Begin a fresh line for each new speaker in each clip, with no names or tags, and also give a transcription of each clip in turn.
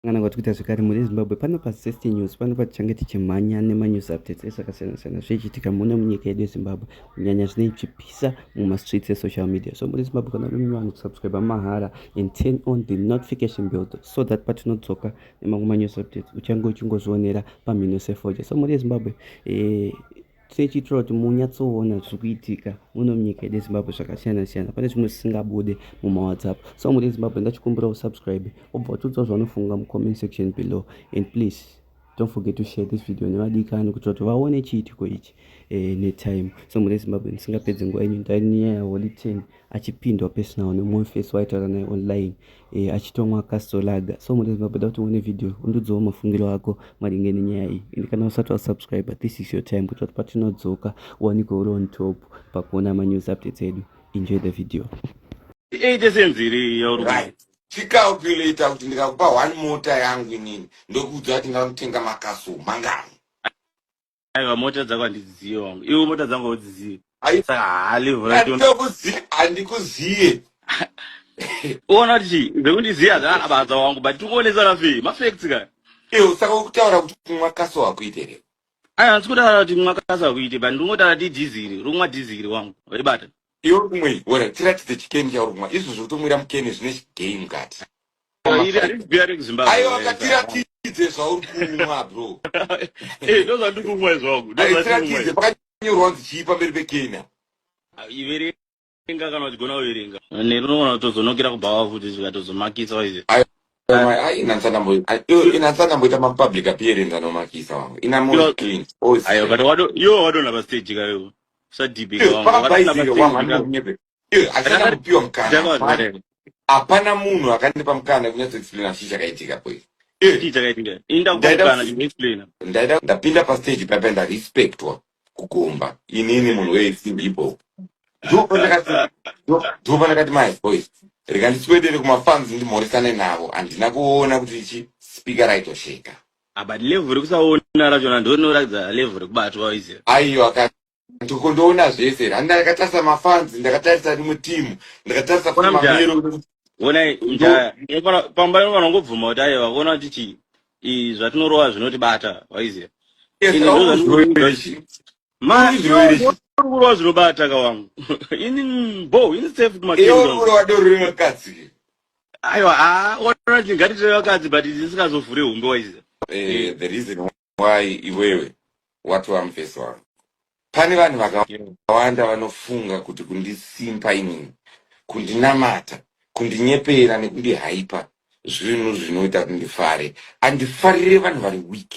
kana kuti kuita zvekare mhuri yezimbabwe pano pasafety news pano patichange tichimhanya nemanews updates ese akasiyana siyana zvichiitika muno munyika yedu yezimbabwe kunyanya zvine chipisa mumastreets esocial media so mhuri yezimbabwe kana uri mumwe vanhu kusubscribe mahara and turn on the notification bell so that patinodzoka nemamwe manews updates uchange uchingozvionera pamhino sefoja so mhuri yezimbabwe eh, tichitira kuti munyatsoona zviri kuitika muno munyika yedu yezimbabwe zvakasiyana siyana pane zvimwe zvisingabude mumawhatsapp so muri ezimbabwe ndachikumbira usubscribe obva utiudzawo zvaunofunga mucomment section below and please don't forget to share this video nevadikani kuitira kuti vaone chiitiko ichi eh, netime so muri ezimbabwe ndisingapedze nguva yenyu ndainyaya holy ten achipindwa personal nemumwe face waitaura naye online e, achitomwa kastolaga so mune zimbabwe da kuti uone video undudzawo mafungiro ako maringe nenyaya iyi ende kana usati wasubscribe this is your time kuitira kuti patinodzoka uwanikwe uri on top pakuona manews updates edu enjoy the video iite senziri yauri
right chicalculator kuti ndikakupa one mota yangu inini ndokuudza kuti ndinotenga makaso mangani
aiwa mota dzako handidzizive wangu iwe mota dzangu haudzizive saka
haalivhurakuzive handikuzive
uona kuti zvekundiziva zvaanabadza wangu but tikuonesa nafe mafacts ka iwe saka ukutaura
kuti kumwa kaso wakuiterei aya handisi kutaura
kuti kumwa kaso wakuite but ndingotaura ti dhiziri rumwa dhiziri wangu waibata iwe kumwei
ora tiratidze chikeni chauri kumwa izvo zvotomwira mukeni zvine game kati aiwa ngatiratidze zvauri kumwa bro eh, ndozvandiri
kumwa izvangu tiratidze
pakanyorwa kunzi chii pamberi pekenya ah,
iverenga kana uchigona kuverenga nerunogona kutozonokera kubhawa futi zvikatozomakisa waize
inatsanamboita mapublic appearance anomakisa wangu inayo but
wadona pastaji kayo sadhibhekawangu Iyo hapana
Akadari- kupiwa mukana. Hapana- Ndakazvarera. Hapana munhu akandipa mukana kunyatso explaina chii chakaitika po ichi. Iyo Chii chakaitika? Ini Ndaida ndakukana kuti- chinoexplaina. ndaida ndapinda pastage paipa ndarespectwa kugomba inini munhu wesimbi ipo ndopo ndakati ndo- ndopo ndakati my voice rega ndiswedere kumafans ndimhoresane navo handina kuona kuti ichi speaker raitosheka Ah, but level
rekusaona rachona ndonoratidza level rekubatwa izi. aiyo aka
Ndiko ndoona zvese. Randa ndakatarisa mafans, ndakatarisa rimwe team, ndakatarisa Ona mjaya. mamiriro. Ona
mjaya. Pamba ino vanongobvuma kuti aye vakuona kuti chi i zvatinorova zvinotibata, waiziya. Yes, ini ndozva ndikuuza kuti ma kurova zvinobata kawangu. Ini bo, ini safe kuma kendo. Iyo kurova doro rino
katsi.
Aiwa, ah, ona kuti ngatitere vakadzi but zvisikazovhure humbe waiziya. Eh, the reason
why iwewe watova mufesi wangu pane vanhu vakawanda vanofunga kuti kundisimpa inini kundinamata kundinyepera nekundihaipa zvinhu zvinoita kuti ndifare andifarire vanhu vari weak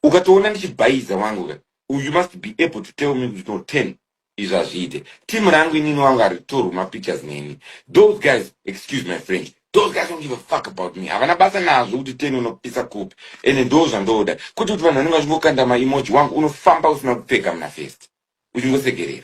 ukatoona ndichibhaiza wangu ka you must be able to tell me kuti no ten izvi hazviite team rangu inini wangu haritorwi mapictures neni those guys excuse my french those guys don't give a fuck about me havana basa nazvo kuti teni unopisa kupi ende ndoo zvandoda kuti kuti vanhu vanenge vachingokanda maemoji wangu unofamba usina kupfeka muna fest uchingosekerera